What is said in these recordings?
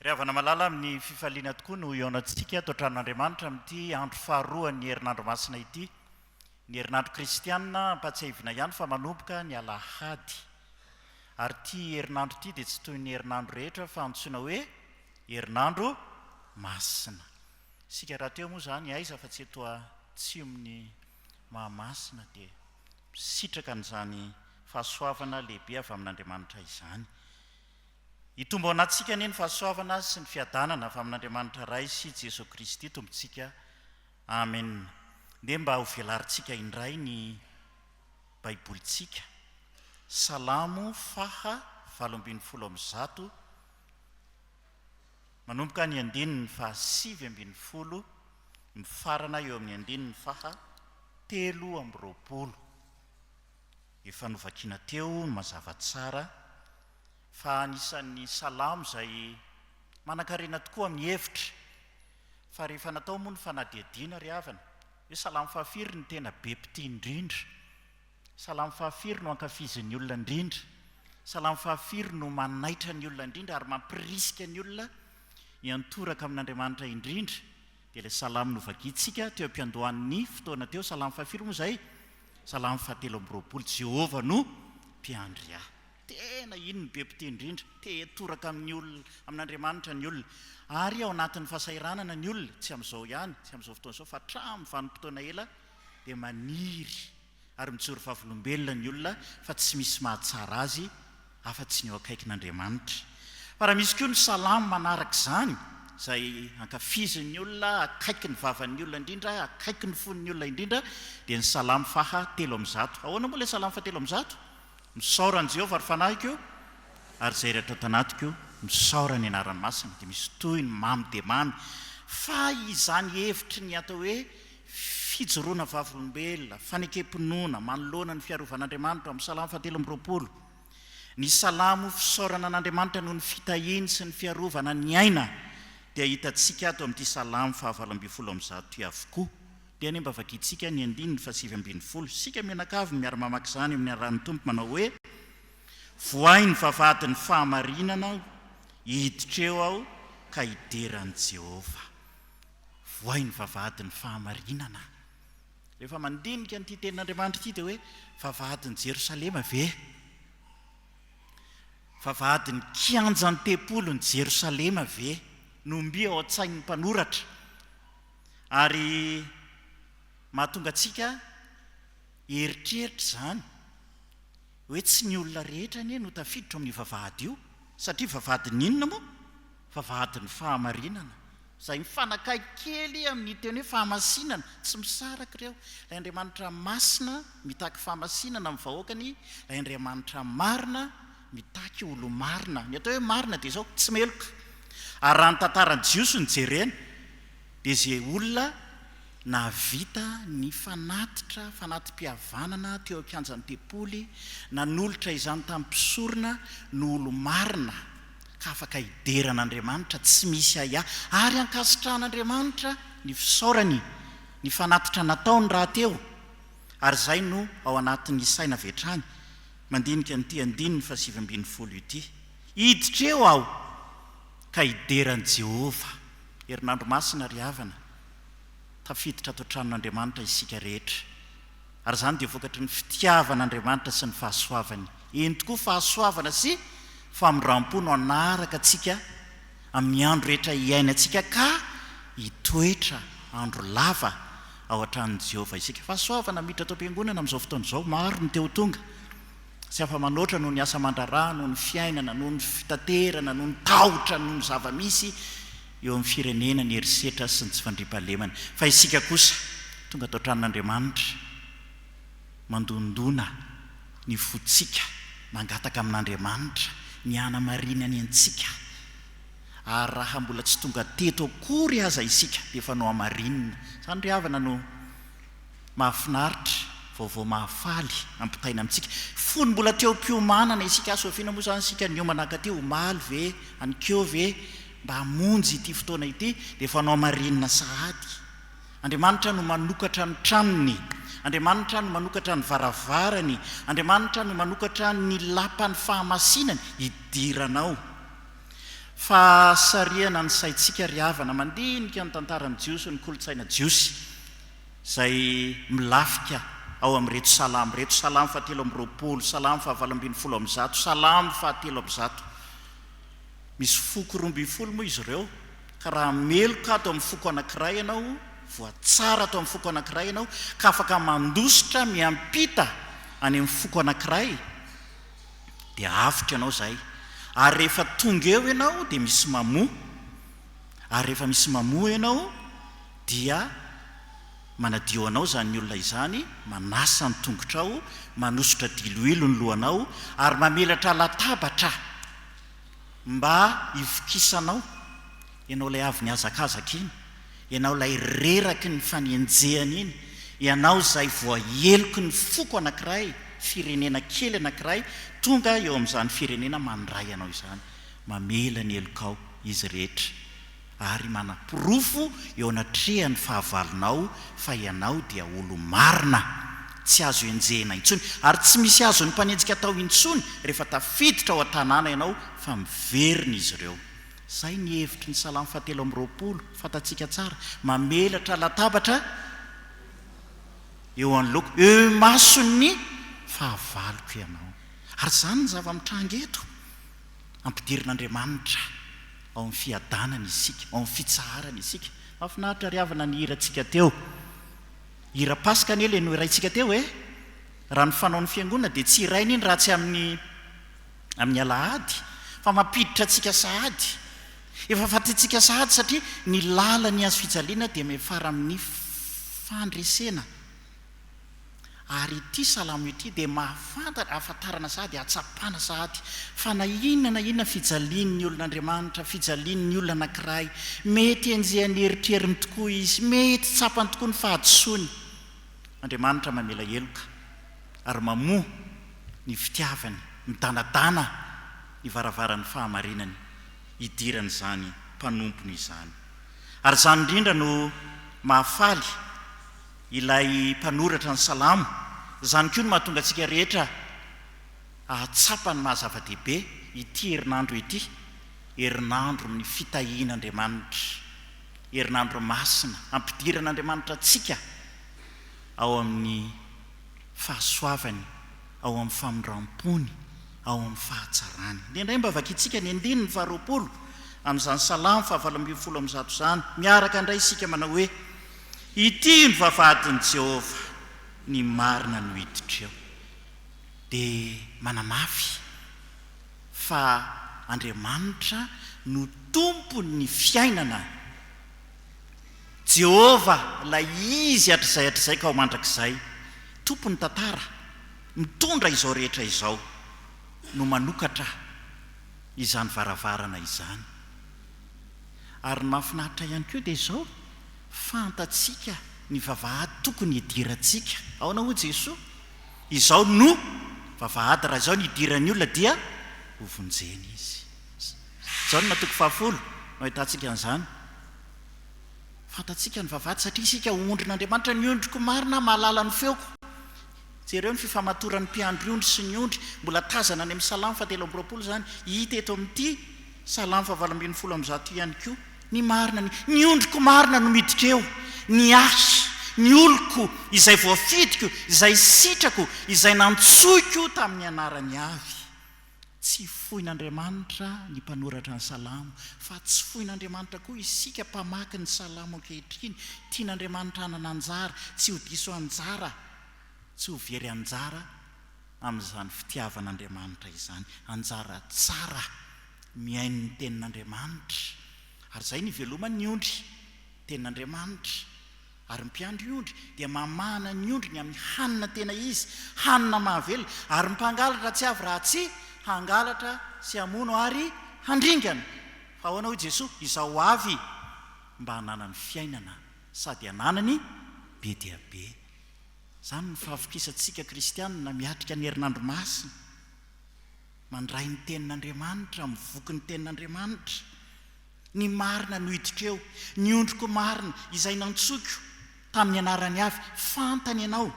Ry havana malala, amin'ny fifaliana tokoa no hihaonantsika ato an-tranon'Andriamanitra amin'ity andro faharoan'ny herinandro masina ity, ny herinandro kristiana, ampahatsiahivina ihany fa manomboka ny alahady. Ary ity herinandro ity dia tsy toy ny herinandro rehetra fa antsoina hoe herinandro masina. Isika rahateo moa izany aiza fa tsy eto Atsimon'i Mahamasina dia misitraka an'izany fahasoavana lehibe avy amin'Andriamanitra izany. Hitombo ao anatintsika anie ny fahasoavana sy ny fiadanana avy amin'Andriamanitra Ray sy Jesoa Kristy Tompontsika. Amen. Ndeha mba ho velarintsika indray ny Baibolintsika. Salamo faha valo ambin'ny folo amby zato. Manomboka ny andininy faha sivy ambin'ny folo mifarana eo amin'ny andininy faha telo amby roapolo. Efa novakina teo ny mazava tsara fa anisan'ny salamo izay manankarena tokoa amin'ny hevitra fa rehefa natao moa ny fanadihadiana ry havana hoe salamo fahafiry no tena be mpitia indrindra Salamo fahafiry no ankafizin'ny olona indrindra? Salamo fahafiry no manaitra ny olona indrindra ary mampirisika ny olona hiantoraka amin'Andriamanitra indrindra? Dia ilay salamo novakintsika teo am-piandohan'ny fotoana teo, salamo fahafiry moa izay? Salamo fahatelo amby roapolo, Jehovah no mpiandry ahy. Tena iny no be mpitia indrindra, te hiantoraka amin'ny olona, amin'Andriamanitra ny olona. Ary ao anatin'ny fahasahiranana ny olona, tsy amin'izao ihany, tsy amin'izao fotoana izao, fa hatramin'ny vanim-potoana ela dia maniry ary mijoro vavolombelona ny olona fa tsy misy mahatsara azy afa tsy ny eo akaikin'Andriamanitra. Fa raha misy koa ny salamo manaraka izany, izay ankafizin'ny olona, akaiky ny vavan'ny olona indrindra, akaiky ny fon'ny olona indrindra, dia ny salamo faha telo amby zato. Ahoana moa ilay salamo faha telo amby zato? Misaora an'i Jehovah ry fanahiko, ary izay rehetra tanatiko, misaora ny anarany masina. Dia misy tohiny mamy dia mamy, fa izany hevitry ny atao hoe Fijoroana vavolombelona, fanekem-pinoana manoloana ny fiarovan'Andriamanitra, ao amin'ny Salamo fahatelo amby roapolo. Ny Salamo fisaorana an'Andriamanitra noho ny fitahiany sy ny fiarovana ny aina dia hitantsika ato amin'ity Salamo fahavalo ambin'ny folo amby zato ity avokoa. Dia anie mba vakintsika ny andininy fahasivy ambin'ny folo, isika mianakavy miara-mamaky izany amin'ny Anaran'ny Tompo manao hoe, Vohay ny vavahadin'ny fahamarinana aho, hiditra eo aho ka hidera an'i Jehovah. Vohay ny vavahadin'ny fahamarinana. Rehefa mandinika an'ity tenin'Andriamanitra ity dia hoe vavahadin'i Jerosalema ve? Vavahadin'ny kianjan'ny tempolin'i Jerosalema ve no mby ao an-tsain'ny mpanoratra ary mahatonga antsika hieritreritra izany hoe tsy ny olona rehetra anie no tafiditra ao amin'io vavahady io satria vavahadin'ny inona moa? Vavahadin'ny fahamarinana, izay mifanakaiky kely amin'ny teny hoe fahamasinana, tsy misaraka ireo. Ilay Andriamanitra masina mitaky fahamasinana amin'ny vahoakany, ilay Andriamanitra marina mitaky olo-marina. Ny atao hoe marina dia izao, tsy meloka. Ary raha ny tantaran'ny Jiosy no jerena, dia izay olona nahavita ny fanatitra, fanati-pihavanana teo an-kianjan'ny tempoly, nanolotra izany tamin'ny mpisorona, no olo-marina. ka afaka hidera an'Andriamanitra tsy misy ahiahy ary hankasitrahan'Andriamanitra ny fisaorany ny fanatitra nataony rahateo, ary izay no ao anatin'ny saina avy hatrany mandinika an'ity andininy fahasivy ambin'ny folo ity, Hiditra eo aho ka hidera an'i Jehovah. Herinandro masina ry havana, tafiditra ato an-tranon'Andriamanitra isika rehetra. Ary izany dia vokatry ny fitiavan' Andriamanitra sy ny fahasoavany. Eny tokoa, fahasoavana sy famindram-po no hanaraka antsika amin'ny andro rehetra iainantsika ka hitoetra andro lava ao an-tranon'i Jehovah isika. Fahasoavana miditra ato am-piangonana amin'izao fotoana izao. Maro ny te ho tonga. Tsy afa-manoatra noho ny asa aman-draharaha, noho ny fiainana, noho ny fitaterana, noho ny tahotra, noho ny zava-misy. eo amin'ny firenena ny herisetra sy ny tsy fandriampahalemana, fa isika kosa tonga ato an-tranon'Andriamanitra, mandondona ny fontsika, mangataka amin'Andriamanitra ny hanamarinany antsika, ary raha mbola tsy tonga teto akory aza isika dia efa nohamarinina, izany ry havana no mahafinaritra, vaovao mahafaly ampitaina amintsika, fony mbola teo am-piomanana isika, soa vina moa izany isika niomana hankaty, omaly ve, anikeo ve, Mba hamonjy ity fotoana ity dia fanao marinina sahady. Andriamanitra no manokatra ny tranony. Andriamanitra no manokatra ny varavarany. Andriamanitra no manokatra ny lapan'ny fahamasinany hidirana ao. Fa sarihana ny saintsika ry havana mandinika ny tantaran'ny Jiosy, ny kolontsaina Jiosy, izay milafika ao amin'ireto Salamo ireto, Salamo fahatelo amby roapolo, Salamo fahavalo ambin'ny folo amby zato, Salamo fahatelo amby zato. Misy foko roa ambin'ny folo moa izy ireo ka raha meloka ato amin'ny foko anankiray ianao, voatsara ato amin'ny foko anankiray ianao ka afaka mandositra miampita any amin'ny foko anankiray dia avotra ianao izay ary rehefa tonga eo ianao dia misy mamoa ary rehefa misy mamoa ianao dia manadio anao izany olona izany, manasa ny tongotrao, manosotra diloilo ny lohanao ary mamelatra latabatra. Mba hivokisanao, ianao ilay avy nihazakazaka iny, ianao ilay reraky ny fanenjehana iny, ianao izay voaheloky ny foko anankiray, firenena kely anankiray tonga eo amin'izany firenena mandray anao izany, mamela ny helokao izy rehetra. ary manaporofo eo anatrehan'ny fahavalonao fa ianao dia olo-marina, tsy azo enjehina intsony, ary tsy misy azon'ny mpanenjika atao intsony rehefa tafiditra ao an-tanàna ianao fa miverina izy ireo. Izay ny hevitry ny Salamo fahatelo amby roapolo, fantatsika tsara, mamelatra latabatra eo anoloako, eo imason'ny fahavaloko ianao. Ary izany no zava-mitranga eto. Ampidirin'Andriamanitra ao amin'ny fiadanany isika, ao amin'ny fitsaharany isika. Mahafinaritra ry havana ny hirantsika teo. Hira Paska anie ilay nohiraintsika teo e! Raha ny fanaon'ny Fiangonana dia tsy hiraina iny raha tsy amin'ny amin'ny Alahady fa mampiditra antsika sahady. Efa fantatsika sahady satria ny lalan'ny hazofijaliana dia miafara amin'ny fandresena. Ary ity salamo ity dia mahafantatra, ahafantarana sahady ahatsapana sahady fa na inona na inona fijalian'ny olon'Andriamanitra, fijalian'ny olona anankiray, mety enjehan'ny eritreriny tokoa izy, mety tsapany tokoa ny fahadisoany. Andriamanitra mamela heloka ary mamoha ny fitiavany, midanadana ny varavaran'ny fahamarinany hidiran'izany mpanompony izany. Ary izany indrindra no mahafaly. Ilay mpanoratra ny Salamo, izany koa no mahatonga antsika rehetra hahatsapa ny maha-zava-dehibe ity herinandro ity, herinandron'ny fitahian'Andriamanitra, herinandro masina hampidiran'Andriamanitra antsika ao amin'ny fahasoavany, ao amin'ny famindram-pony, ao amin'ny fahatsarany. Indraindray mba vakintsika ny andininy faharoapolo amin'izany Salamo fahavalo ambin'ny folo amby zato izany miaraka indray isika manao hoe. Ity no vavahadin'i Jehovah, ny marina no hiditreo. Dia manamafy fa Andriamanitra no Tompon'ny fiainana. Jehovah, ilay Izy hatrizay hatrizay ka ho mandrakizay, Tompon'ny tantara, mitondra izao rehetra izao, no manokatra izany varavarana izany. Ary ny mahafinaritra ihany koa dia izao, fantatsika ny vavahady tokony hidirantsika. Ahoana hoy Jesoa? Izao no vavahady, raha izao no idiran'ny olona dia hovonjena izy. Jaona toko fahafolo no ahitantsika an'izany. Fantatsika ny vavahady satria isika ondrin'Andriamanitra, ny ondriko marina mahalala ny feoko. Jereo ny fifamatoran'ny mpiandry ondry sy ny ondry, mbola tazana any amin'ny salamo fahatelo amby roapolo izany, hita eto amin'ity. Salamo fahavalo ambin'ny folo amby zato ihany koa, Ny marina, ny, ny ondriko marina no miditra eo, ny ahy, ny oloko, izay voafidiko, izay sitrako, izay nantsoiko tamin'ny anarany avy. Tsy foin'Andriamanitra ny mpanoratra ny Salamo, fa tsy foin'Andriamanitra koa isika mpamaky ny Salamo ankehitriny. Tian'Andriamanitra hanana anjara, tsy ho diso anjara, tsy ho very anjara. amin'izany fitiavan'Andriamanitra izany, anjara tsara mihaino ny tenin'Andriamanitra, ary izay no ivelomany ny ondry, ny tenin'Andriamanitra, ary ny mpiandry ondry dia mamahana ny ondriny amin'ny hanina tena izy, hanina mahavelona, ary ny mpangalatra tsy avy raha tsy hangalatra sy hamono ary handringana, fa ahoana hoy Jesoa, izaho avy mba hananany fiainana sady hananany be dia be. Izany ny fahavitrisantsika kristianina miatrika ny herinandro masina, mandray ny tenin'Andriamanitra amin'ny voky ny tenin'Andriamanitra, ny marina no hiditra eo, ny ondriko marina izay nantsoiko tamin'ny anarany avy, fantany ianao,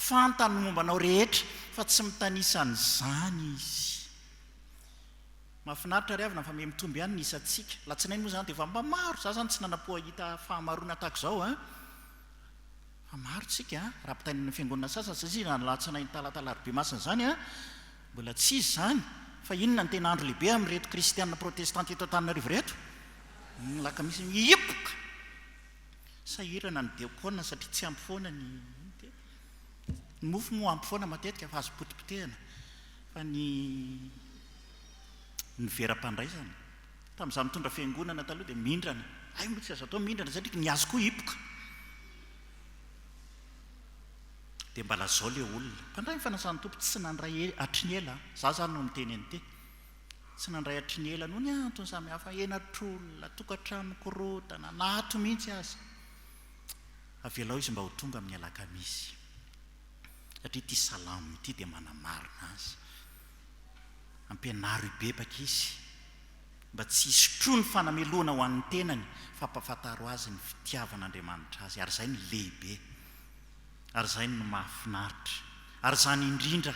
fantany ny momba anao rehetra fa tsy mitanisa an'izany Izy. Mahafinaritra ry havana fa miha mitombo ihany ny isantsika, alatsinainy moa izany dia efa mba maro, izaho izany tsy nanam-po hahita fahamaroana tahaka izao an! Fa maro isika raha mpitaingina ny fiangonana sasany satria raha ny alatsinainy talata alarobia masina izany mbola tsy izy izany fa inona ny tena andro lehibe amin'ireto kristiana protestanta eto antananarivo ireto? ny alakamisy mihiboka sahirana ny diakona satria tsy ampy foana ny ny mofo moa ampy foana matetika fa azo potipotehina fa ny ny vera-pandraisana Tamin'izaho nitondra fiangonana taloha dia mindrana. Hay moa tsy azo atao mindrana satria ny azy koa hipoka. Dia mba lazao ilay olona. Mpandray ny fanasan'ny Tompo tsy nandray hatry ny ela. Izaho izany no miteny an'ity. Tsy nandray hatry ny ela noho ny antony samihafa, henatr'olona, tokantrano nikorontana, na ato mihitsy aza. Avelao izy mba ho tonga amin'ny alakamisy. Satria ity salamo ity dia manamarina azy. Ampianaro hibebaka izy mba tsy hisotroany fanamelohana ho an'ny tenany fa ampahafantaro azy ny fitiavan'Andriamanitra azy ary izay no lehibe ary izay no mahafinaritra ary izany indrindra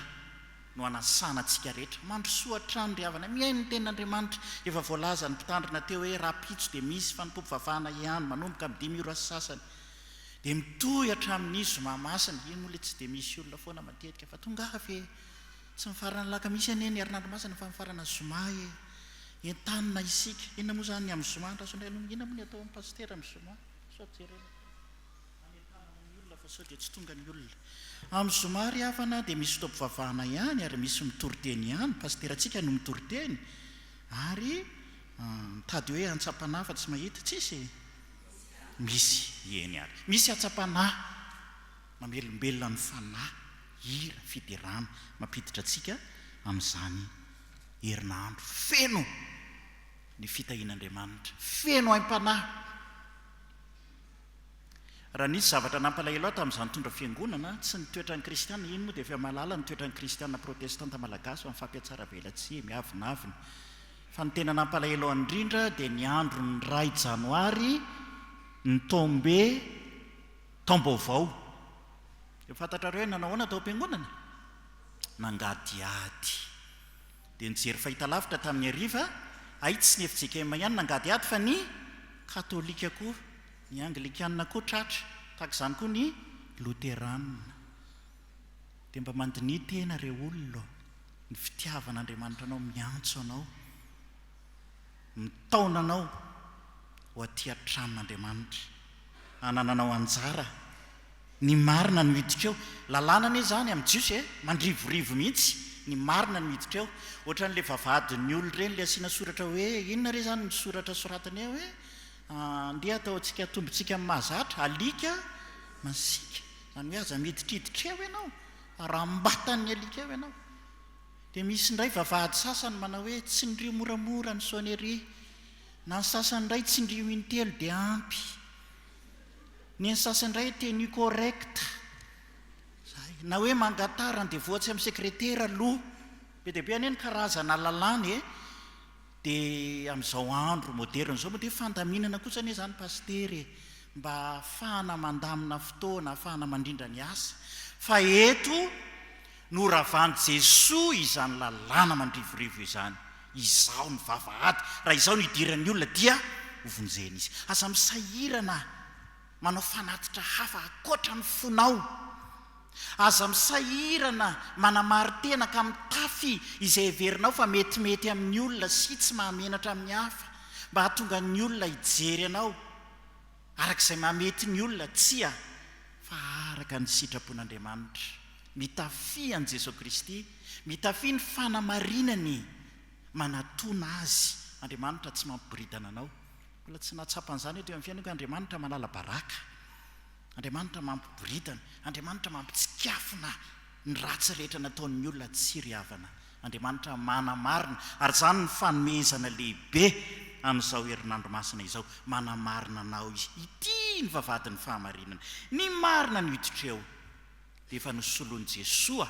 no anasana antsika rehetra. Mandrosoa hatrany ry havana, mihaino ny tenin'Andriamanitra, efa voalazan'ny mpitandrina teo hoe rahampitso dia misy fanompoam-pivavahana hiany manomboka amin'ny dimy ora sy sasany dia mitohy hatramin'ny zoma masina, io moa ilay tsy dia misy olona foana matetika fa tongava e! Tsy mifarana ny lakamisy anie ny herinandro masina fa mifarana zoma e! Entanina isika! Inona moa izany ny amin'ny zoma an-dRasoanaihalongo? Inona moa ny atao amin'ny pasitera amin'ny zoma? Sao jerena any an-tanana ny olona fa sao dia tsy tonga ny olona. Amin'ny zoma ry havana dia misy fotoam-pivavahana ihany ary misy mitoriteny ihany, pasiterantsika no mitoriteny ary mitady hoe hantsapana fa tsy mahita, tsisy e! Misy, eny ary misy hatsapana. Mamelombelona ny fanahy, hira, fiderana, mampiditra antsika amin'izany herinandro feno ny fitahian'Andriamanitra, feno aim-panahy. Raha nisy zavatra nampalahelo ahy tamin'izaho nitondra fiangonana, tsy ny toetran'ny kristiana, iny moa dia efa mahalala ny toetran'ny kristiana protestanta malagasy fa mifampihatsaravelatsihy, miavonavona, fa ny tena nampalahelo ahy indrindra dia ny andron'ny iray janoary, ny tombe, Taom-baovao. Efa fantatrareo hoe nanao ahoana tao am-piangonana? Nangadihady. Dia nijery fahitalavitra tamin'ny hariva, hay tsy ny fjkm ihany nangadihady fa ny Katolika koa, ny Anglikana koa tratra, tahaka izany koa ny Loterana. Dia mba mandiniha tena re olona ô, ny fitiavan'Andriamanitra anao miantso anao. mitaona anao ho aty an-tranon'Andriamanitra, hanananao anjara. Ny marina no hiditra eo. Lalàna anie izany amin'ny Jiosy e! Mandrivorivo mihitsy, ny marina no hiditra eo. Ohatran'ilay vavahadin'ny olona ireny, ilay asiana soratra hoe, inona re izany ny soratra soratany eo e? Andeha hataontsika atombontsika amin'ny mahazatra, alika masiaka. Izany hoe aza miditriditra eo ianao, harambatan'ny alika eo ianao. Dia misy indray vavahady sasany manao hoe tsindrio moramora ny sonnerie, na ny sasany indray tsindrio intelo dia ampy, ny an'ny sasany indray tenue correcte, izay, na hoe mangatara ny devoa-tsy amin'ny sekretera aloha, be dia be anie ny karazana lalàna e, dia amin'izao andro moderne izao moa dia fandaminana kosa anie izany pasitera e, mba ahafahana mandamina fotoana, ahafahana mandrindra ny asa, fa eto. Noravan'i Jesoa izany lalàna mandrivorivo izany, Izaho no vavahady, raha izaho no idiran'ny olona dia hovonjena izy. Aza misahirana manao fanatitra hafa ankoatra ny fonao. Aza misahirana manamari-tena ka mitafy izay heverinao fa metimety amin'ny olona sy tsy mahamenatra amin'ny hafa, mba hahatonga ny olona hijery anao araka izay mahamety ny olona? Tsia, fa araka ny sitrapon'Andriamanitra. Mitafia an'i Jesoa Kristy, mitafia ny fanamarinany manatona Azy. Andriamanitra tsy mampiboridana anao. Mbola tsy nahatsapa an'izany aho teo amin'ny fiainako hoe Andriamanitra manala baraka, Andriamanitra mampiboridana, Andriamanitra mampitsikafona ny ratsy rehetra nataon'ny olona. Tsia ry havana. Andriamanitra manamarina, ary izany no fanomezana lehibe an'izao herinandro masina izao, manamarina anao Izy. Ity ny vavahadin'ny fahamarinana, ny marina no hiditreo. Dia efa nosoloin'i Jesoa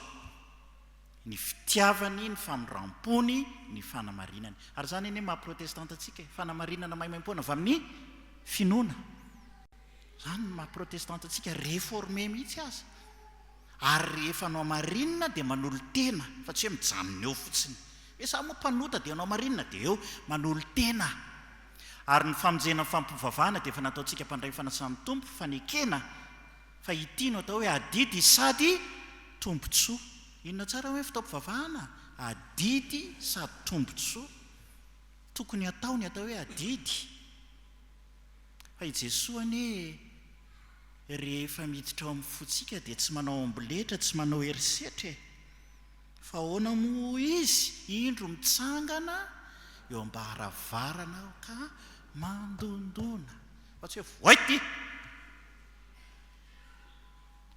ny fitiavany, ny famindram-pony, ny fanamarinany. Ary izany anie maha protestanta antsika e, fanamarinana maimaim-poana avy amin'ny finoana. Izany no maha protestanta antsika, reformé mihitsy aza. Ary rehefa nohamarinina dia manolo-tena fa tsy hoe mijanona eo fotsiny hoe za moa mpanota dia nohamarinina dia eo, manolo-tena. Ary ny famonjena ny fampivavahana dia efa nataontsika mpandray fanasan'ny Tompo, fanekena fa ity no atao hoe adidy sady tombotsoa. Inona tsara ny hoe fotoam-pivavahana? Adidy sady tombotsoa. Tokony hatao ny atao hoe adidy. Fa i Jesoa anie Rehefa miditra ao amin'ny fotsika dia tsy manao amboletra, tsy manao herisetra e! Fa ahoana moa izy? Indro mitsangana eo am-baravarana aho ka mandondona, fa tsy hoe voaity!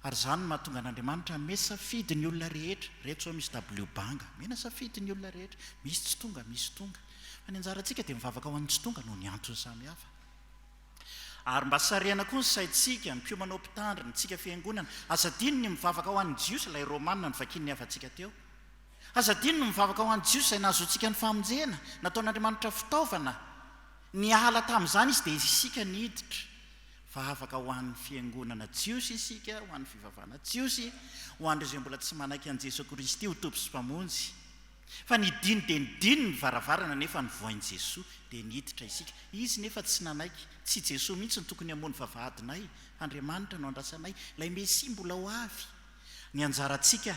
Ary izany no mahatonga an'Andriamanitra hanome safidy ny olona rehetra. Ireto izao misy dabilio banga, omena safidy ny olona rehetra. Misy tsy tonga, misy tonga. Fa ny anjarantsika dia mivavaka ho an'ny tsy tonga noho ny antony samihafa. Ary mba sarihana koa ny saintsika, ny mpiomana ao mpitandrina, antsika fiangonana, aza adino ny mivavaka ho an'ny Jiosy, ilay Romana novakian'ny havantsika teo. Aza adino ny mivavaka ho an'ny Jiosy izay nahazoantsika ny famonjena, nataon'Andriamanitra fitaovana, niala tamin'izany Izy dia isika niditra. Vavaka ho an'ny fiangonana Jiosy isika, ho an'ny fivavahana Jiosy, ho an'ireo izay mbola tsy manaiky an'i Jesoa Kristy ho Tompo sy Mpamonjy. Fa nidino dia nidino ny varavarana nefa novohain'i Jesoa dia niditra isika. Izy nefa tsy nanaiky. Tsy Jesoa mihitsy no tokony hamono vavahadinay. Andriamanitra no andrasanay. Ilay Mesia mbola ho avy. Ny anjarantsika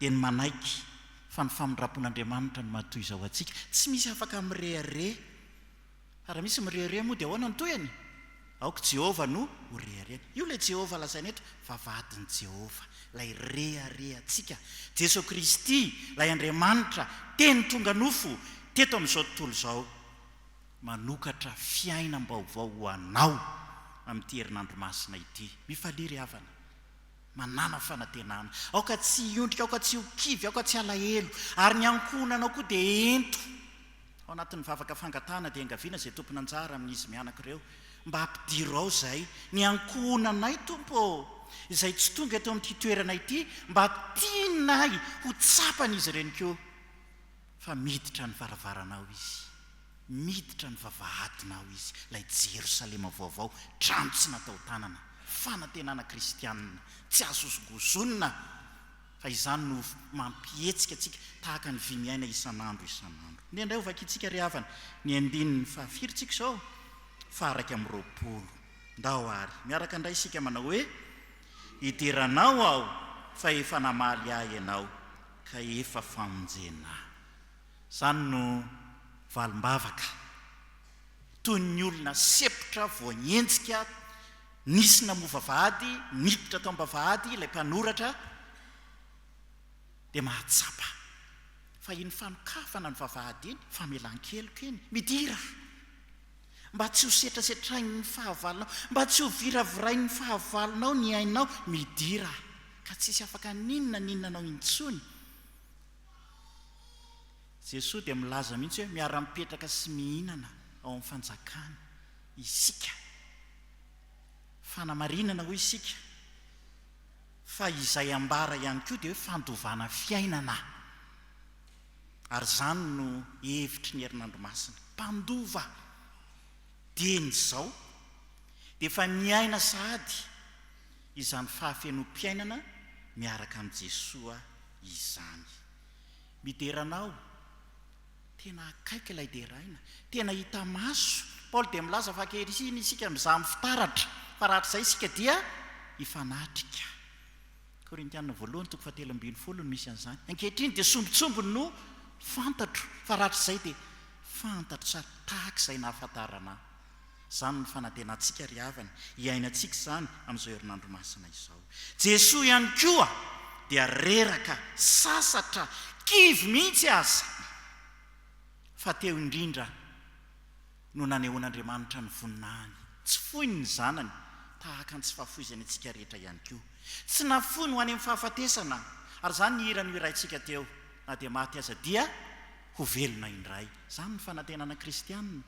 dia ny manaiky fa ny famindram-pon'Andriamanitra no maha toy izao antsika. Tsy misy afaka mirehareha. Raha misy mirehareha moa dia ahoana ny tohiny? Aoka i Jehovah no ho reharehany. Io ilay Jehovah lazaina eto fa vadin'i Jehovah, ilay reharehantsika, Jesoa Kristy, ilay Andriamanitra Teny tonga nofo teto amin'izao tontolo izao, manokatra fiainam-baovao ho anao amin'ity herinandro masina ity. Mifalia ry havana. Manàna fanantenana. Aoka tsy hiondrika, aoka tsy ho kivy, aoka tsy halahelo. Ary ny ankohonanao koa dia ento. Ao anatin'ny vavaka fangatahana dia engaviana izay tompon'anjara amin'izy mianaka ireo mba hampidiro ao izay ny ankohonanay, Tompo ô, izay tsy tonga eto amin'ity toerana ity mba tianay ho tsapan'izy ireny koa fa miditra ny varavaranao izy, miditra ny vavahadinao izy, ilay Jerosalema vaovao, trano tsy natao tanana, fanantenana kristianina tsy azozongozonina. fa izany no mampihetsika antsika tahaka ny vy miaina isan'andro isan'andro. Nendray ho vakintsika ry havana ny andininy fahafiry tsika izao? Faha-iraika amby roapolo. Ndao àry miaraka indray isika manao hoe, Idiranao aho, fa efa namaly ahy Ianao, ka efa famonjena ahy. Izany no valim-bavaka. toy ny olona sepotra voagnenjika, nisy namoa vavahady, niditra tao am-bavahady ilay mpanoratra, dia mahatsapa fa iny fanokafana ny vavahady iny, famelan-keloka iny, midira mba tsy ho setrasetrain'ny fahavalonao, mba tsy ho viravirain'ny fahavalonao ny ainao, midira ka tsisy afaka n'inona n'inona anao intsony. Jesoa dia milaza mihitsy hoe miara-mipetraka sy mihinana ao amin'ny fanjakany isika. Fanamarinana hoy isika fa izay ambara ihany koa dia hoe fandovana fiainana. Ary izany no hevitry ny herinandro masina. Mpandova dieny izao dia efa niaina sahady izany fahafenoam-piainana miaraka amin'i Jesoa izany. Midera anao, tena akaiky ilay deraina, tena hita maso. Paoly dia milaza fa ankehitriny isika mizaha amin'ny fitaratra, fa rahatrizay isika dia hifanatrika. Korintiana voalohany toko fahatelo ambin'ny folo no misy an'izany. Ankehitriny dia sombintsombiny no fantatro, fa rahatrizay dia fantatro tsara, tahaka izay nahafantarana ahy. Izany no fanantenantsika ry havana, hiainantsika izany amin'izao herinandro masina izao. Jesoa ihany koa dia reraka, sasatra, kivy mihitsy aza, fa teo indrindra no nanehoan'Andriamanitra ny voninahiny tsy foiny ny Zanany, tahaka ny tsy fahafoizany antsika rehetra ihany koa. Tsy nafoiny ho any amin'ny fahafatesana, ary izany nihirany ho iraintsika teo, na dia maty aza dia ho velona indray. Izany no fanantenana kristianina.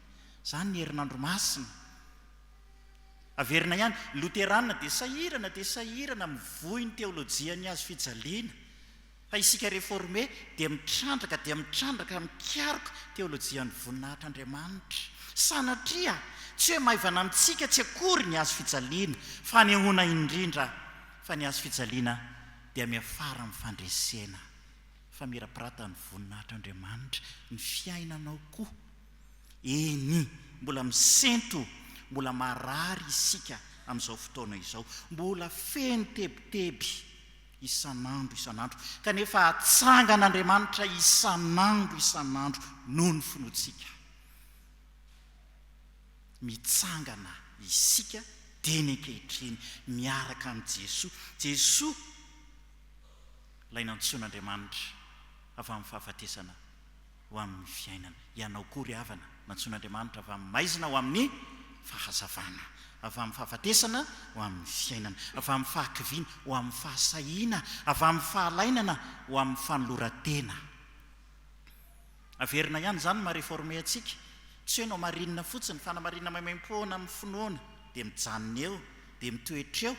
Izany ny herinandro masina. Averina ihany, ny loterana dia sahirana dia sahirana mivoy ny teolojia ny hazo fijaliana, fa isika reforme dia mitrandraka dia mitrandraka mikaroka teolojian'ny voninahitr'Andriamanitra. Sanatria, tsy hoe maivana amintsika tsy akory ny hazo fijaliana, fanehoana indrindra fa ny hazo fijaliana dia miafara amin'ny fandresena, famirapiratan'ny voninahitr'Andriamanitra ny fiainanao koa. Eny, mbola misento, mbola marary isika amin'izao fotoana izao. Mbola feno tebiteby isan'andro isan'andro, kanefa atsangan'Andriamanitra isan'andro isan'andro noho ny finoantsika. Mitsangana isika dieny ankehitriny miaraka amin'i Jesoa. Jesoa Ilay nantsoin'Andriamanitra avy amin'ny fahafatesana. ho amin'ny fiainana. Ianao koa, ry havana, nantsoin'Andriamanitra avy amin'ny maizina ho amin'ny fahazavana, avy amin'ny fahafatesana ho amin'ny fiainana, avy amin'ny fahakiviana ho amin'ny fahasahiana, avy amin'ny fahalainana ho amin'ny fanoloran-tena. Averina ihany izany ny maha-reforme antsika, tsy hoe nao marina fotsiny, fa na marina maimaim-poana amin'ny finoana, dia mijanona eo, dia mitoetra eo,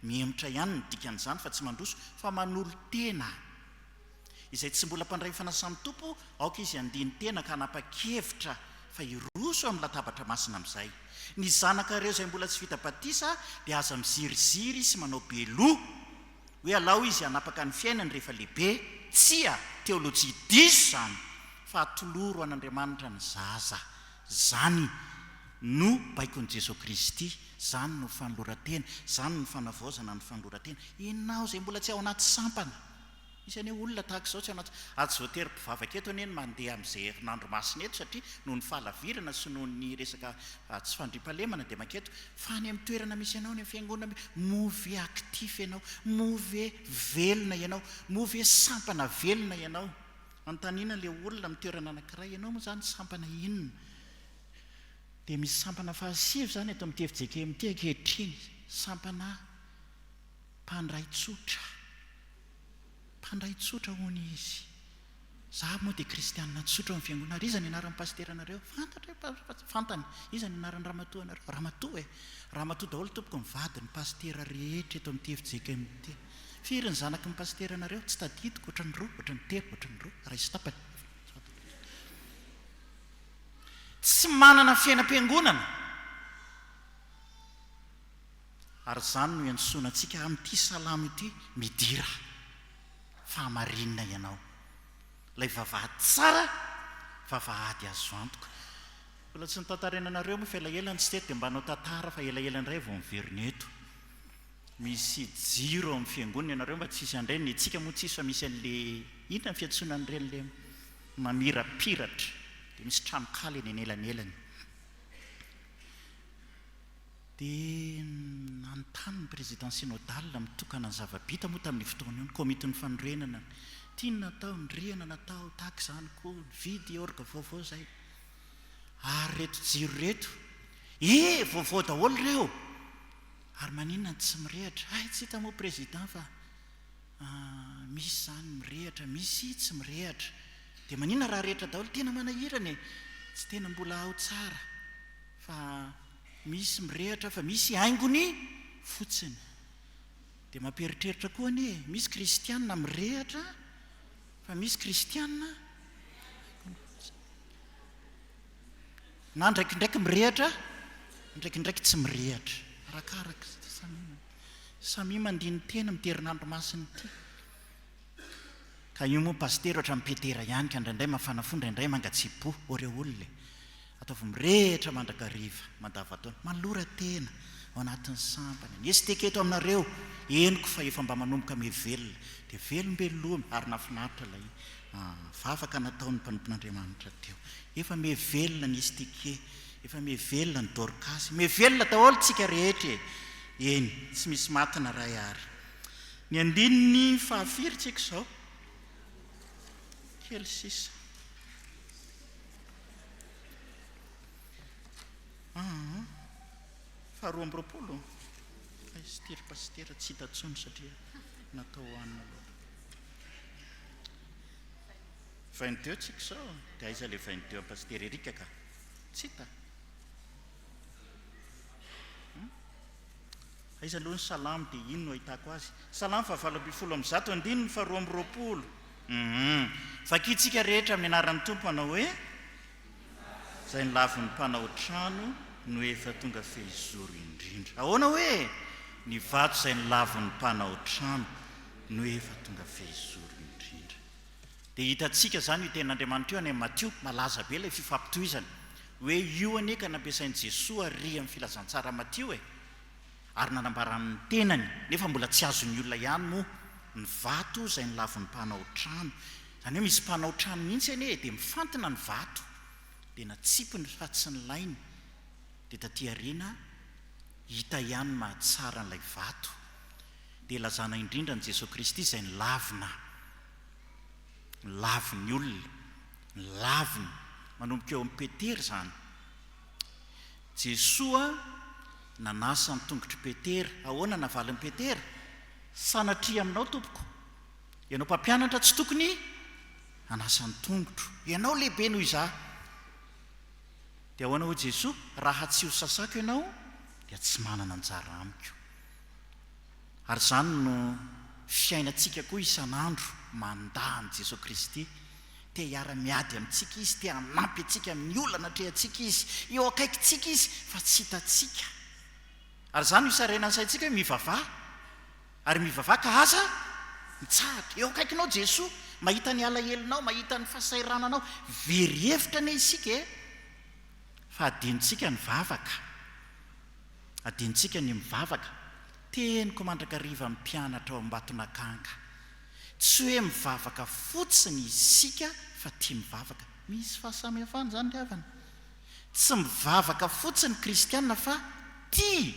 mihemotra ihany ny dikan'izany, fa tsy mandroso, fa manolo-tena. Izay tsy mbola mpandray fanasan'ny Tompo, aoka izy handini-tena ka hanapa-kevitra fa hiroso amin'ny latabatra masina amin'izay. Ny zanakareo izay mbola tsy vita batisa dia aza miziriziry sy manao be loha hoe alao izy hanapaka ny fiainany rehefa lehibe. Tsia, teolojia diso izany, fa atoloro an'Andriamanitra ny zaza. Izany no baikon'i Jesoa Kristy, izany no fanoloran-tena, izany no fanavaozana ny fanoloran-tena. Ianao izay mbola tsy ao anaty sampana. Misy anie olona tahaka izao tsy ao anaty, ary tsy voatery mpivavaka eto anie ny mandeha amin'izay herinandro masina eto satria noho ny fahalavirana sy noho ny resaka tsy fandriampahalemana dia manketo fa any amin'ny toerana misy anao, any amin'ny fiangonana, move actif ianao, move velona ianao, move sampana velona ianao. Anontaniana ilay olona amin'ny toerana anankiray, ianao moa izany sampana inona? Dia misy sampana fahasivy izany eto amin'ny TFJKMT ankehitriny, sampana Mpandray tsotra. Mpandray tsotra hono izy. Za moa dia kristianina tsotra ao amin'ny fiangonana. Ary iza ny anaran'ny pasiteranareo? Fantatra e, fantany. Iza ny anaran'ny ramatoanareo? Ramatoa e. Ramatoa daholo tompoko ny vadin'ny pasitera rehetra eto amin'ity efijeikay ity. Firy ny zanaky ny pasiteranareo? Tsy tadidiko, ohatran'ny roa, ohatran'ny telo, ohatran'ny roa, iray sy tapany. Tsy manana fiainam-piangonana. Ary izany no iantsoana antsika amin'ity salamo ity, Midira fahamarinina ianao. Ilay vavahady tsara, vavahady azo antoka. Mbola tsy notantaraina anareo moa fa ela ela no tsy teto dia mba hanao tantara fa ela ela indray vao miverina eto. Misy jiro ao amin'ny fiangonana ianareo mba tsy hisy handray, ny antsika moa tsy hisy fa misy an'ilay inona ny fiantsoana an'ireny ilay mamirapiratra, dia misy tranonkala eny anelanelany. Dia nanontany ny Président Synodal mitokana ny zava-bita moa tamin'io fotoana io ny Komitin'ny Fanorenana ny tiany natao, ny rihana natao, tahaka izany koa ny vidy orgue vaovao izay. Ary ireto jiro ireto, ee! vaovao daholo ireo! Ary maninona no tsy mirehatra? Hay tsy hita moa Président fa misy izany mirehatra, misy tsy mirehatra. Dia maninona raha rehatra daholo? Tena manahirana e! Tsy tena mbola ao tsara. fa misy mirehatra fa misy haingony fotsiny dia mampieritreritra koa anie e, misy kristianina mirehatra fa misy kristianina na ndraikindraiky mirehatra ndraikindraiky tsy mirehatra arakaraka samia samia mandini-teny amin'ity herinandro masina ity ka io moa pasitera ohatran'ny petera ihany ka indraindray mafana fo indraindray mangatsiaky-po oreo olona e Ataovy mirehitra mandrakariva, mandavantaona, malora tena, ao anatin'ny sampana. Ny STK eto aminareo, henoko fa efa mba manomboka mihevelona, dia velombelomy ary nahafinaritra ilay vavaka nataon'ny mpanompon'Andriamanitra teo. Efa mihevelona ny STK, efa mihevelona ny Dorcas, mihevelona daholo tsika rehetra e! Eny, tsy misy maty na iray ary. Ny andininy fahafiry tsika izao? Kely sisa. Faharoa amby roapolo, Pasitera ry Pasitera tsy hita intsony satria natao ho anona loatra. 22 tsika izao, dia aiza ilay 22 an'i Pasitera Eric ka? Tsy hita. Aiza aloha ny salamo dia iny no ahitako azy. Salamo fahavalo ambin'ny folo amby zato andininy faharoa amby roapolo um Vakintsika rehetra amin'ny anaran'ny Tompo manao hoe, Izay nilavin'ny mpanao trano no efa tonga fehizoro indrindra. Ahoana hoe, Ny vato izay nilavin'ny mpanao trano no efa tonga fehizoro indrindra. Dia hitantsika izany io tenin'Andriamanitra io any amin'ny Matio, malaza be ilay fifampitohizana. Hoe io anie ka nampiasain'i Jesoa àry amin'ny Filazantsara Matio e! ary nanambara ny tenany nefa mbola tsy azon'ny olona ihany moa ny vato izay nolavon'ny mpanao trano, izany hoe misy mpanao trano mihitsy anie e, dia mifantina ny vato dia natsipiny fa tsy nilainy, dia taty aoriana hita ihany ny maha tsara an'ilay vato, dia ilazana indrindra an'i Jesoa Kristy izay nilavina, nilavin'ny olona, nilaviny, manomboka eo amin'i Petera izany. Jesoa nanasa ny tongotr'i Petera. Ahoana navalin'i Petera? Sanatria aminao Tompoko. Ianao mpampianatra tsy tokony hanasa ny tongotro. Ianao lehibe noho izaho. Dia ahoana hoy Jesoa? Raha tsy ho sasako ianao dia tsy manana anjara amiko. Ary izany no fiainantsika koa isan'andro, mandà an'i Jesoa Kristy. Te hiara-miady amintsika Izy, te hanampy antsika amin'ny olana atrehantsika Izy. Eo akaikintsika Izy, fa tsy hitantsika. Ary izany no hisarainan'ny saintsika hoe mivavaha, ary mivavaha ka aza mitsahatra. Eo akaikinao Jesoa, mahita ny alahelonao, mahita ny fahasahirananao. Very hevitra anie isika e! Fa adinontsika ny vavaka, adinontsika ny mivavaka. Teniko mandrakariva amin'ny mpianatra ao Ambatonakanga, Tsy hoe mivavaka fotsiny isika fa tia mivavaka. Misy fahasamihafana izany ry havana. Tsy mivavaka fotsiny ny kristiana fa tia,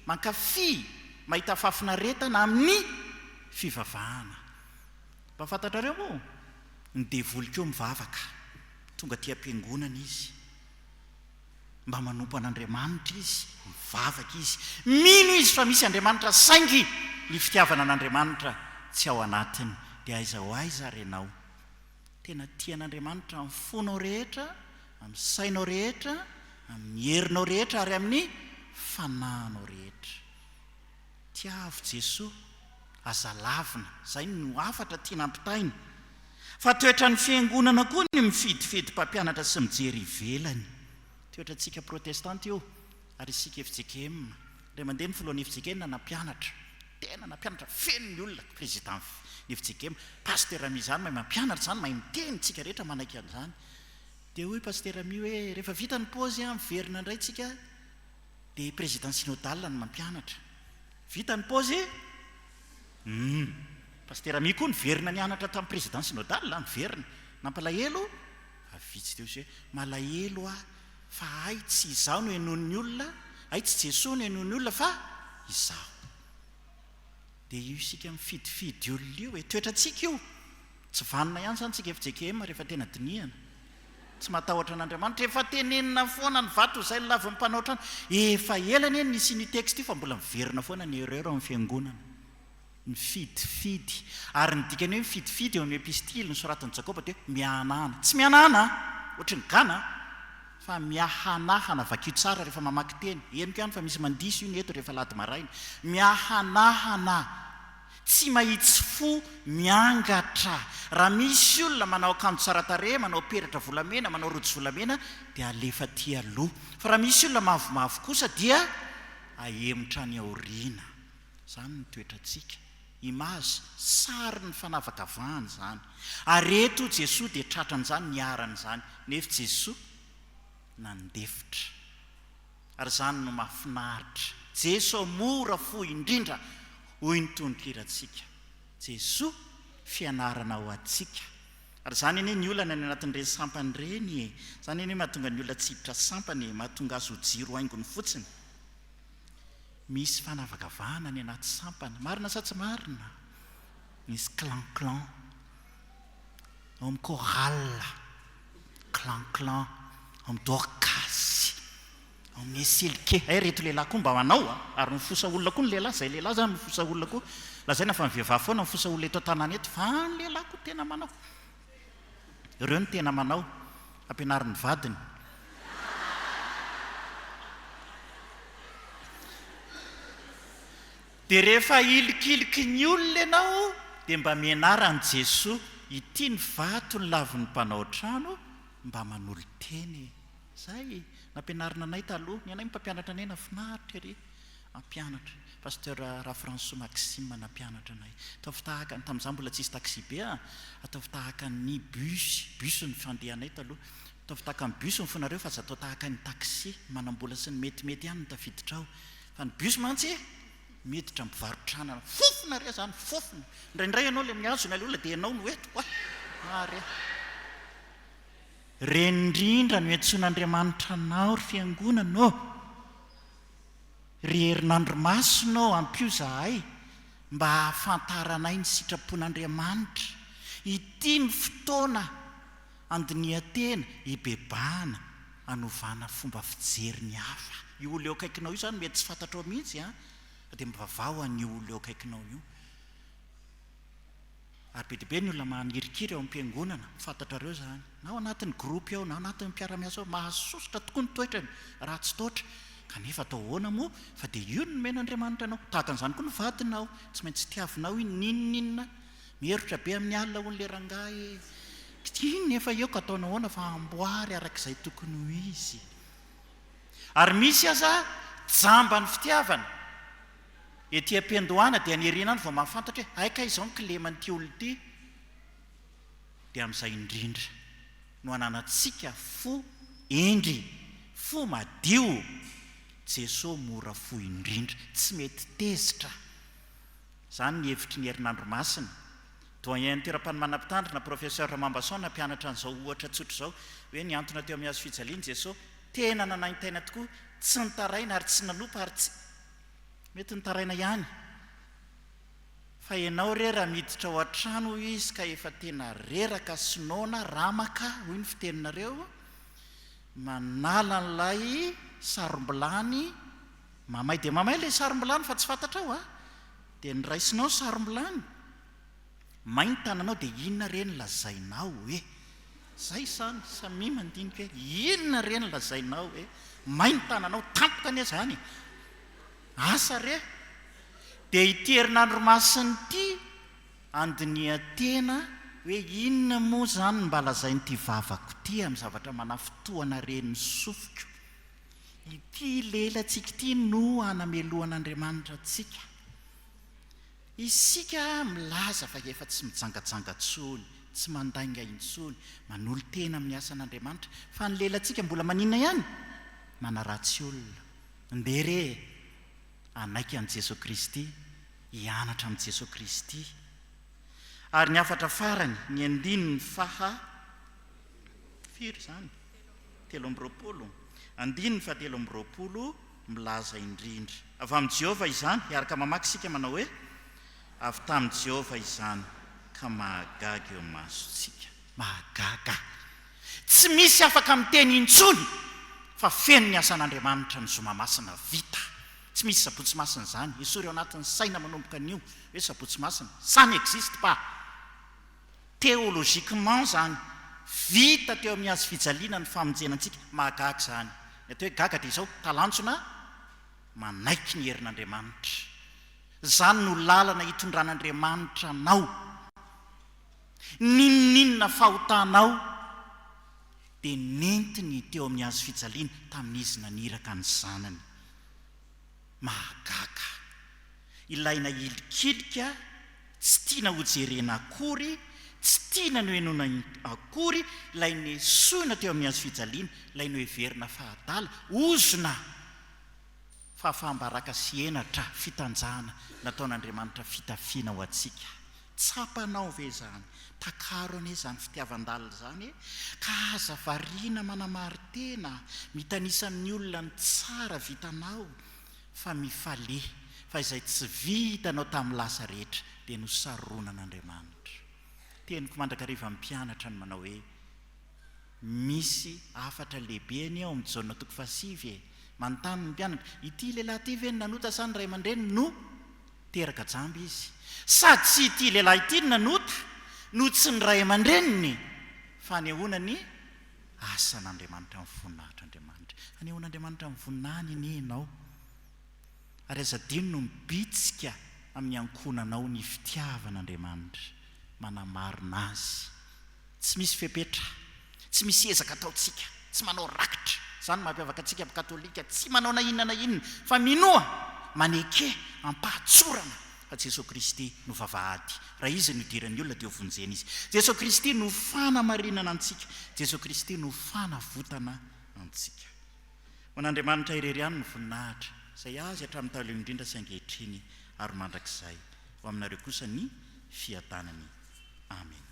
mankafy, mahita fahafinaretana amin'ny fivavahana. Mba fantatrareo moa? Ny devoly koa mivavaka. Tonga aty am-piangonana izy. mba manompo an'Andriamanitra izy, mivavaka izy, mino izy fa misy Andriamanitra saingy ny fitiavana an'Andriamanitra tsy ao anatiny dia aiza ho aiza ary ianao? Tena tia an'Andriamanitra amin'ny fonao rehetra, amin'ny sainao rehetra, amin'ny herinao rehetra ary amin'ny fanahinao rehetra. Tiavo Jesoa, aza lavina, izay no hafatra tiana ampitaina. Fa toetran'ny Fiangonana koa ny mifidifedy mpampianatra sy mijery ivelany. Toetrantsika Protestanta io, ary isika fjkm, indray mandeha ny Filohan'ny fjkm nampianatra, tena nampianatra feno ny olona, Président-ny fjkm, Pasteur Mia izany mahay mampianatra izany, mahay miteny, isika rehetra manaiky an'izany. Dia hoy Pasteur Mia hoe, rehefa vita ny pause an, miverina indray isika, Dia président synodale no mampianatra. Vita ny pause e! Humm! Pasitera Mia koa niverina nianatra tamin'ny président synodale an! Niverina! Nampalahelo? Fa vitsy teo izay hoe, malahelo aho fa hay tsy izaho no henoin'ny olona, hay tsy Jesoa no henoin'ny olona fa izaho. Dia io isika mifidifidy olona io e! Toetrantsika io! Tsy vanona ihany izany tsika FJKM rehefa tena dinihana. Tsy matahotra an'Andriamanitra. Efa tenenina foana ny vato izay ny lavin'ny mpanao trano. Efa ela anie ny nisian'io texte io fa mbola miverina foana ny erreur ao amin'ny fiangonana. Mifidifidy. Ary ny dikan'io mifidifidy eo amin'ny epistily nosoratan'i Jakoba dia hoe mihanahana. Tsy mihanahana an! Ohatry ny gana an! Fa miahanahana. Vakio tsara rehefa mamaky teny. Henoko ihany fa misy mandiso io ny eto rehefa alahady maraina. Miahanahana. Tsy mahitsy fo miangatra. Raha misy olona manao akanjo tsara tarehy, manao peratra volamena, manao rojo volamena dia alefa aty aloha. Fa raha misy olona mavomavo kosa dia ahemotra any aoriana. Izany ny toetrantsika. Image, sary ny fanavakavahana izany. Ary eto Jesoa dia tratran'izany, niharan'izany. Nefy Jesoa nandefitra. Ary izany no mahafinaritra. Jeso mora fo indrindra hoy ny tononkirantsika. Jeso fianarana ho antsika. Ary izany anie ny olana any anatin'ireny sampany ireny e! Izany anie mahatonga ny olona tsy hiditra sampana e! Mahatonga azy ho jiro haingony fotsiny. Misy fanavakavahana any anaty sampana. Marina sa tsy marina? Misy clan clan. ao amin'ny chorale, clan clan, ao amin'ny dorcas, ao amin'ny eselike, hay reto lehilahy koa mba manao a! ary mifosa olona koa ny lehilahy, izay lehilahy izany mifosa olona koa, lazaina fa ny vehivavy foana no mifosa olona eto an-tanàna eto, fa ny lehilahy koa tena manao, ireo no tena manao, ampianarin'ny vadiny. Dia rehefa ilikiliky ny olona ianao dia mba mianara an'i Jesoa, ity ny vato ny lavon'ny mpanao trano, mba manolo-tena e! Zay nampianarina anay taloha, ny anay mpampianatra anay nahafinaritra ery hampianatra, Pasteur Rafransoa Maxime nampianatra anay, ataovy tahaka ny, tamin'izaho mbola tsisy taxi-be an, ataovy tahaka ny bus, bus ny fandehanay taloha, ataovy tahaka ny bus ny fonareo fa aza atao tahaka ny taxi, manam-bola sy ny metimety ihany ny tafiditrao. Fa ny bus mantsy miditra mivarotra anana. Fofona re zany, fofona. Indraindray ianao le mihazona ilay olona dia ianao no eto kwa. Ah re. Ireny indrindra no iantsoan'Andriamanitra anao ry fiangonana ô. Ry herinandro masina ô ampio zahay mba hahafantaranay ny sitrapon'Andriamanitra. Ity ny fotoana. Andinihan-tena, hibebahana, hanovana fomba fijery ny hafa. Io olona eo akaikinao io izany mety tsy fantatrao mihitsy an! Fa dia mivavaha ho an'io olona eo akaikinao io. Ary be dia be ny olona manirikiry ao am-piangonana, fantatrareo izany, na ao anatin'ny gropy ao, na ao anatin'ny mpiara-miasa ao, mahasosotra tokoa ny toetrany raha tsy taotra. Kanefa atao ahoana moa fa dia io no nomen'Andriamanitra anao. Tahaka an'izany koa ny vadinao, tsy maintsy tiavinao iny n'inon'inona Mierotra be amin'ny alina hono le rangahy e! Tsy iny nefa eo ka ataonao ahoana fa amboary araka izay tokony ho izy. Ary misy aza jamba ny fitiavana. Ety am-piandohana dia ny erina any vao mahafantatra hoe hay kay izao ny kileman'ity olona ity. Dia amin'izay indrindra no ananantsika fo hendry, fo madio. Jesoa mora fo indrindra, tsy mety tezitra. Izany ny hevitry ny herinandro masina. Doyen Nteram-panomana Mpitandrina, Professeur Ramambason nampianatra an'izao ohatra tsotra izao, hoe nihantona teo amin'ny hazo fijaliana i Jeso, tena nanaintaina tokoa, tsy nitaraina ary tsy nanompa ary tsy. Mety nitaraina ihany. Fa ianao re raha miditra ao an-trano hoy izy ka efa tena reraka sy noana, ramaka hoy ny fiteninareo, manala an'ilay sarom-bilany, Mamay dia mamay ilay sarom-bilany fa tsy fantatrao a! Dia ny raisinao sarom-bilany, may ny tananao dia inona re ny lazainao e! Izay izany, samia mandinika hoe inona re ny lazainao e! May ny tananao, tampoka anie izany e! Asa re! Dia ity herinandro masina ity handinihan-tena hoe inona moa izany ny mba lazain'ity vavako ity amin'ny zavatra manafintohina ren'ny sofiko. Ity lelantsika ity no hanamelohan'Andriamanitra antsika. Isika milaza fa efa tsy mijangajanga intsony, tsy mandainga intsony, manolo-tena amin'ny asan'Andriamanitra, fa ny lelantsika mbola maninona ihany? Manaratsy olona. Ndeha re e! Hanaiky an'i Jesoa Kristy, hianatra amin'i Jesoa Kristy. Ary ny hafatra farany, ny andininy faha firy izany? telo amby roapolo andininy fahatelo amby roapolo milaza indrindra. Avy amin'i Jehovah izany. Hiaraka mamaky isika manao hoe, Avy tamin'i Jehovah izany, ka mahagaga eo masontsika. Mahagaga. Tsy misy afaka miteny intsony fa feno ny asan'Andriamanitra ny zoma masina vita. Tsy misy Sabotsy masina izany. Esory ao anatin'ny saina manomboka anio hoe Sabotsy masina. Ça n'existe pas. Théologiquement zany, vita teo amin'ny hazo fijaliana ny famonjena antsika. Mahagaga izany. Ny atao hoe gaga dia izao, talanjona manaiky ny herin'Andriamanitra. Izany no lalana hitondran'Andriamanitra anao. N'inon'inona fahotanao dia nentiny teo amin'ny hazo fijaliana tamin'izy naniraka ny Zanany. Mahagaga! Ilaina hilikilika, tsy tiana hojerena akory, tsy tiana nohenoina akory ilay nesoina teo amin'ny hazofijaliana, ilay noheverina fa adala, ozona, fahafaham-baraka sy henatra, fitanjahana nataon'Andriamanitra fitafiana ho antsika. Tsapanao ve izany? Takaro anie izany fitiavan-dalina izany e! Ka aza variana manamari-tena, mitanisa amin'ny olona ny tsara vitanao, fa mifalea fa izay tsy vitanao tamin'ny lasa rehetra dia nosaronan'Andriamanitra. Teniko mandrakariva amin'ny mpianatra ny manao hoe. Misy hafatra lehibe anie ao amin'ny Jaona toko fahasivy e! Manontany ny mpianatra, Ity lehilahy ity ve no nanota sa ny ray aman-dreniny no teraka jamba izy? Sady tsy ity lehilahy ity no nanota no tsy ny ray aman-dreniny! Fanehoana ny asan'Andriamanitra amin'ny voninahitr'Andriamanitra. Hanehoan'Andriamanitra amin'ny voninahiny anie ianao. ary aza adino ny mibitsika amin'ny ankohonanao ny fitiavan'Andriamanitra manamarina Azy. Tsy misy fepetra, tsy misy ezaka ataontsika, tsy manao rakitra, izany no mampiavaka antsika amin'ny Katolika, tsy manao na inona na inona, fa minoa, maneke am-pahatsorana fa Jesoa Kristy no vavahady, raha Izy no idiran'ny olona dia hovonjena izy. Jesoa Kristy no fanamarinana antsika, Jesoa Kristy no fanavotana antsika. Ho an'Andriamanitra irery ihany ny voninahitra, izay azy hatramin'ny taloha indrindra sy ankehitriny ary mandrakizay. Ho aminareo kosa ny fiadanany. Amena.